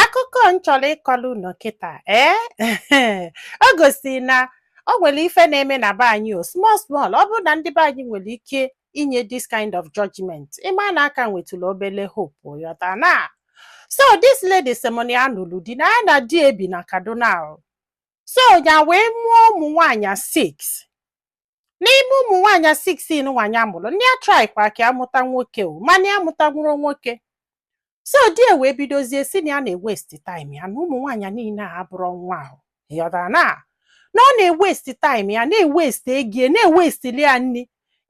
akụkọ m chọrọ ịkọrọ unu kịta ee o gosiri na o nwere ife na-eme na be anyị o small small ọ bụrụ na ndị be anyị nwere ike inye this kind of judgment ị ma na a ka nwetụrụ obele hope ị ghọta na so this lady sị mụ na ya nụlụ di na ya na di ebi na kaduna o. so ya wee mụọ ụmụ nwaanyị six n'ime ụmụ nwaanyị six nwa ya mụrụ na ya traịkwara ka ya mụta nwoke o mana ya amụtanwurọ nwoke so di ya wee bidozie sị na ya na-ewesti time ya na ụmụ nwaanyị niile a abụrọ nwa o ịghọtara na na ọ na-ewesti time ya na-ewesti ego ya na-ewestili ya nri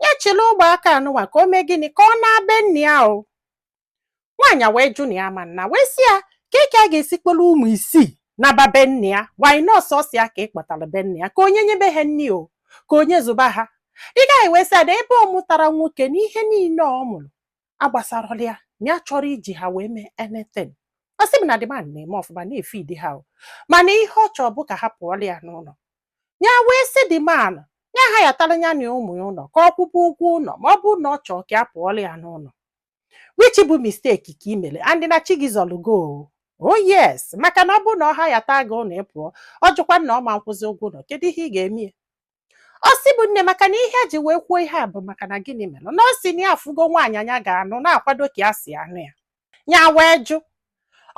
ya chịrị ụmụaka anụwa ka o mee gịnị ka ọ naba be nne ya o nwaanyị a wee jụ na ya ma nna wee sị ya kee ka ya ga-esi kpọrọ ụmụ isii naba be nne ya wanyị nọọsụ ọ sị ya ka ị kpọtara be nne ya ka onye nyebe ha nri o ka onye zụba ha the guy wee sị ya na ebe ọ mụtarọ nwoke na ihe niile ọ mụrụ agbasarọla ya na ya achọrọ iji ha wee mee anything ọ sị m na the man na-eme ọfụma na-efidi ha o mana ihe ọ chọrọ bụ ka ha pụọlụ ya n'ụlọ ya wee sị the man ya hayatara ya na ụmụ ya ụlọ ka ọ kwụba ụgwọ ụlọ ma ọ bụrụ na ọ chọrọ ka ya pụọlụ ya n'ụlọ which bụ mistake ka i mere and na chi gị zọrọ gị o oh yes maka na ọ bụrụ na ọ hayata gị ụlọ ị pụọ ọ jụkwa na ọ ma nkwụzi ụgwọ ụlọ kedu ihe ị ga-eme ya ọ sị mụ nne maka na ihe ya ji wee kwuo ihe a bụ maka na gịnị mere na ọ sị na ya afụgo nwaanyị nya ga-anụ na-akwado ka ya si anụ ya ya wee jụ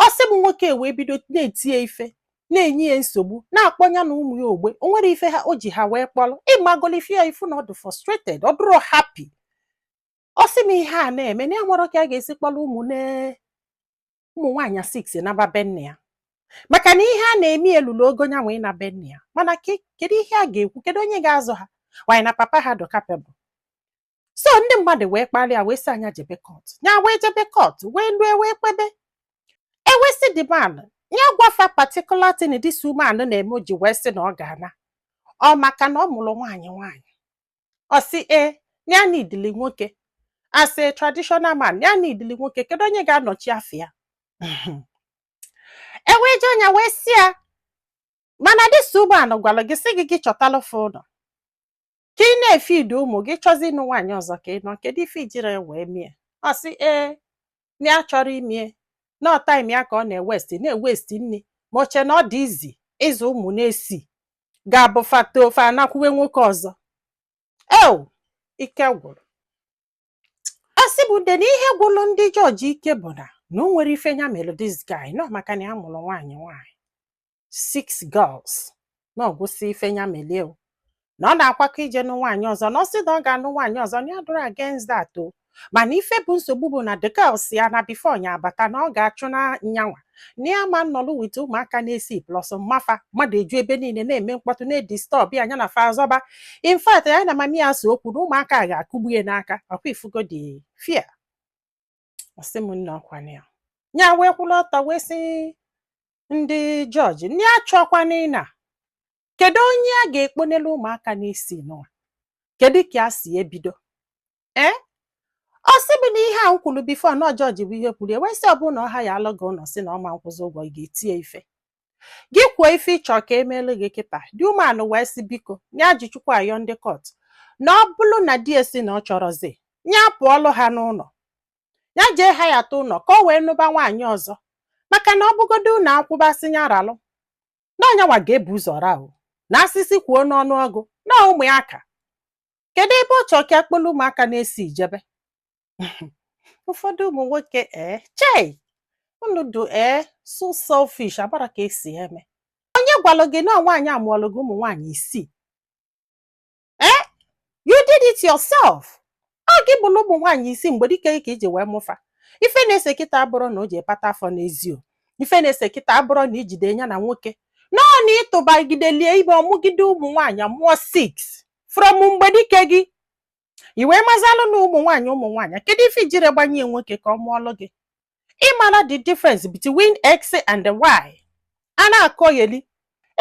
ọ sị mụ nwoke wee bido na-eti ya ife na-enye ya nsogbu na-akpọ ya na ụmụ ya ogbe o nwerọ ife ha o ji ha wee kpọrọ ị magolu ife a ị fụ na ọ dị frustrated ọ dụrọ happy ọ sị m ihe a na-eme na enwerọ ka ya ga-esi kpọrọ ụmụ ne ụmụ nwaanyị six naba be nne ya maka na ihe a na-eme elulu ogo nyanwa ịna be nne ya mana ke- kedu ihe a ga-ekwu kedu onye ga-azụ ha wanyị na papa ha dụ capable so ndị mmadụ wee kpalie ya wee sị ya nya jebe court ya wee jebe court wee lue wee kpebe e wee sị the man ya gwa fa particular thing this woman na-eme o ji wee sị na ọ ga-ana ọ maka na ọ mụrụ nwaanyị nwaanyị ọ sị ee na ya needili nwoke as a traditional man na ya needili nwoke kedu onye ga-anọchi afa ya e wee jụọ nya wee sị ya mana this woman gwara gị sị gị gị chọtalụ fa ụlọ ka ị na-efidi ụmụ gị chọzi ịnụ nwaanyị ọzọ ka ị nụọ kedu ife i jirọ wee mee ya ọ sị ee na ya achọrọ ime ya na ọ time ya ka ọ na-ewesti na-ewesti nri ma o che na ọ dị easy ịzụ ụmụ n'isii ga-abụ fa tofe anakwuwe nwoke ọzọ eo ike gwụrụ ọ sị mụ ude na ihe gwụrụ ndị judge ike bụ na na o nwerọ ife ya mere this guy na ọ maka na ya mụrụ nwaanyị nwaanyị six girls na ọ gwụsị ife ya melụ ya o na ọ na-akwakọ ije nụ nwaanyị ọzọ na ọ sị na ọ ga-anụ nwaanyị ọzọ na ya adụrọ against that o mana ife bụ nsogbu bụ na the girl si ya na before nya abata na ọ ga-achụna nyanwa na ya ama nnọlụ with ụmụaka n'isii plus mma fa mmadụ eju ebe niile na-eme mkpọtụ na-edisturb ya nya na fa azọba in fact nya na mami ya so okwu na ụmụaka a ga-akụgbu ya n'aka ọkwa ifugo the fear ọ sị m nne ọkwa nya wee kwụrụ ọtọ wee sị ndị judge ndị achọkwana ịna kedu onye a ga-ekponelu ụmụaka n'isii n'ụwa kedu ka a si ebido ee ọ sị bụ na ihe a m kwuru before na judge bụ ihe kwuru e wee sị ọ bụ na ọ hirealụ gị ụlọ si na ọma nkwụzi ụgwọ ị ga-etinye ife gị kwuo ife ị chọ ka emeelu gị kịta the woman wee sị biko nya ji chukwu ayọ ndị court na ọ bụrụ na di ya si na ọ chọrọzi ya pụọlụ ha n'ụlọ ya jee hireta ụlọ ka o wee nụba nwaanyị ọzọ maka na ọ bụgodo ụlọ akwụba sị ya ralụ na ọ nyanwa ga-ebu ụzọ ra o na asịsị kwuo n'ọnụ ọgụ na ụmụaka kedu ebe ọ chọrọ ka akpọlụ ụmụaka n'isii jebe ụfọdụ ụmụ nwoke ee chei unu dụ ee so selfish abara ka esi eme onye gwalụ gị na nwaanyị amụọlụ gị ụmụ nwaanyị isii ee you did it yourself ọ gị bulu ụmụ nwaanyị isii mgbedike ka iji wee mụ fa ife na-ese kịta abụrọ na o ji ekpata afọ n'ezi o ife na-ese kịta abụrọ na ijide ya na nwoke no ọ na ị tụbagideli ya ime ọ mụgide ụmụ nwaanyị mụọ six from mgbedike gị i wee mazialụ na ụmụ nwaanyị ụmụ nwaanyị kedu ife ijiro gbanye nwoke ka ọ mụọlụ gị ị mara the difference between x and y a na-akọgheli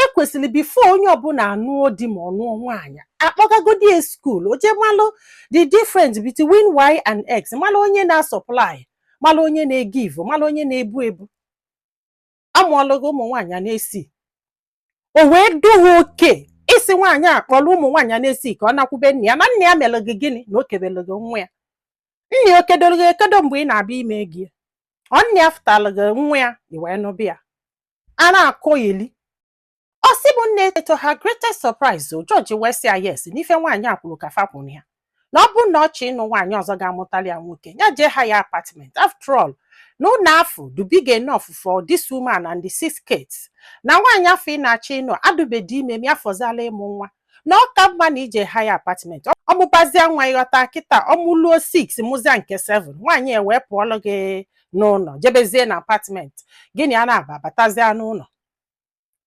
ekwesịrị before onye ọbụla anụọ di ma ọ nụọ nwaanyị akpọgagodi ya school o jee malụ the difference between y and x malụ onye na-asupply malụ onye na-egive malụ onye na-ebu ebu amụọlụ gị ụmụ nwaanyị n'isii o wee dụ gị okay ịsị nwaanyị a kpọrọ ụmụ nwaanyị a n'isii ka ọ nakwube nne ya na nne ya mere gị gịnị na o kebere gị nwa ya nne ya o kedoro gị ekedo mgbe ị na-abịa ime ego ya ọ nne ya fụtara gị nwa ya i wee nụba ya a na-akọgheli ọ sị m nne to her greatest surprise o judge wee sị ya yes n'ife nwaanyị a kwuru ka fa kwuru ya na ọ bụrụ na ọ chọ ịnụ nwaanyị ọzọ ga-amụtali ya nwoke ya jee hire apartment after all na ụlọ afụ dụ big enough for this woman and the six kids na nwaanyị afụ ị na-achọ ịnụ adụbedi ime ma ya fọziala ịmụ nwa na ọ ka mma na ị jee hire apartment ọ mụbazia nwa ị ghọta kịta ọ mụluo 6 mụzia nke 7 nwaanyị e wee pụọlụ gị n'ụlọ jebezie na apartment gị na ya naabọ batazie n'ụlọ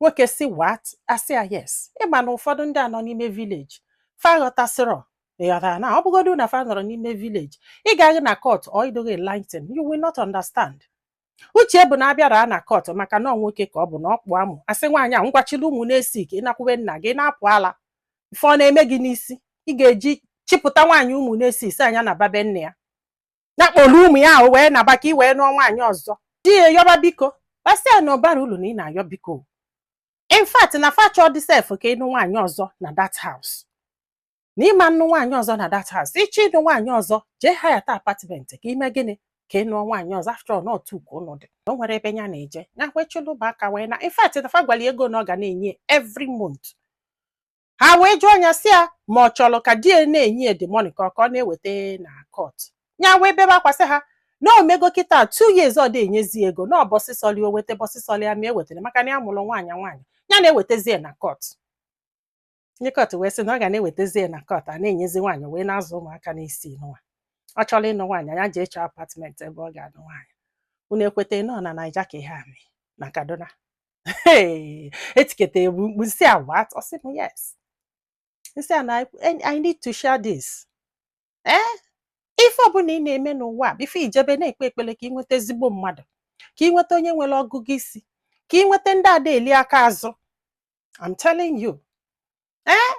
nwoke sị what asị ya yes ịma na ụfọdụ ndị a nọ n'ime village fa ghọtasịrọ ị ghọtara na ọ bụgodu na fa nọrọ n'ime village ị gaghị na court or ị dịghị enlighten you will not understand uche bụ na a bịara na court maka na ọ nwoke ka ọ bụ na ọ kpụ amụ a sị nwaanyị a ngwa chịla ụmụ na-esi ka ị nakwu be nna gị na-apụ ala ife ọ na-eme gị n'isi ị ga-eji chịpụta nwaanyị ụmụ na-esi isi anya naba be nne ya ya kpọrọ ụmụ ya ahụ wee naba ka ị wee nụọ nwaanyị ọzọ di ya yọba biko a sị ya na ọ barọ ulu na ị na-ayọ biko in fact na fa achọdị sef ka ịnụ nwaanyị ọzọ na that house na ị ma-anụ nwaanyị ọzọ na that house ị chọọ ịnụ nwaanyị ọzọ jee hayata apartment ka ị mee gịnị ka ị nụọ nwaanyị ọzọ after all not two ka unu dị o nwerọ ebe ya na-eje ya kwechilụba aka wee naa in fact na fa gwara ya ego na ọ ga na-enye every month ha wee jụọ ya sị ya ma ọ chọrọ ka di ya na-enye ya the money ka ọ ka ọ na-eweta na court ya wee bebe akwa sị ha na o mego kịta two years ọ dị enyezi ego na ụbọsị sọlụ ya o weta ụbọsị sọlụ ya ma ewetara maka na ya mụrụ nwaanyị nwaanyị ya na-ewetezi ya na court ndị court wee sị na ọ ga na-ewetezi ya na court a na-enyezi nwaanyị wee na-azụ ụmụaka n'isi nwa ọ chọrọ ịnụ nwaanyị ya jee chọọ apartment ebe ọ ga-anụ nwaanyị unu ekweta nọ na naija ka ihe a mee na kaduna etiketa egbu mkpu m sị ya what ọ sị m yes m sị ya na I need to share this ee eh? ife ọbụla ị na-eme n'ụwa before ị jebe na-ekpe ekpele ka ị nweta ezigbo mmadụ ka ị nweta onye nwere ọgụgụ isi ka ị nweta ndị ada eli aka azụ I'm telling you ee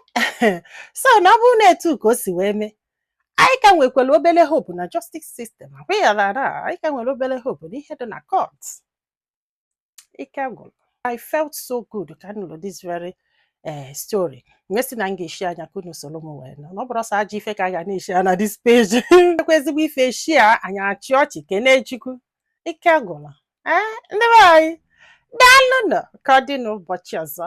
eh? so na ọ bụrụ na etu ka o si wee mee anyị ka nwekwara obele hope na justice system agwaghara anyị ka nwere obele hope n'ihe dị na court ike gwụrụ I felt so good ka m nụrụ this very eh, story m wee sị na m ga-eshare ya ka unu soro m wee nụ na ọ bụrọ sọ ajọ ife ka a ga na-eshare na this page ekwe ezigbo ife e share anyị achị ọchị kenee chukwu ike gwụrụ ee ndị be anyị daalụnụ o ka ọ dị n'ụbọchị ọzọ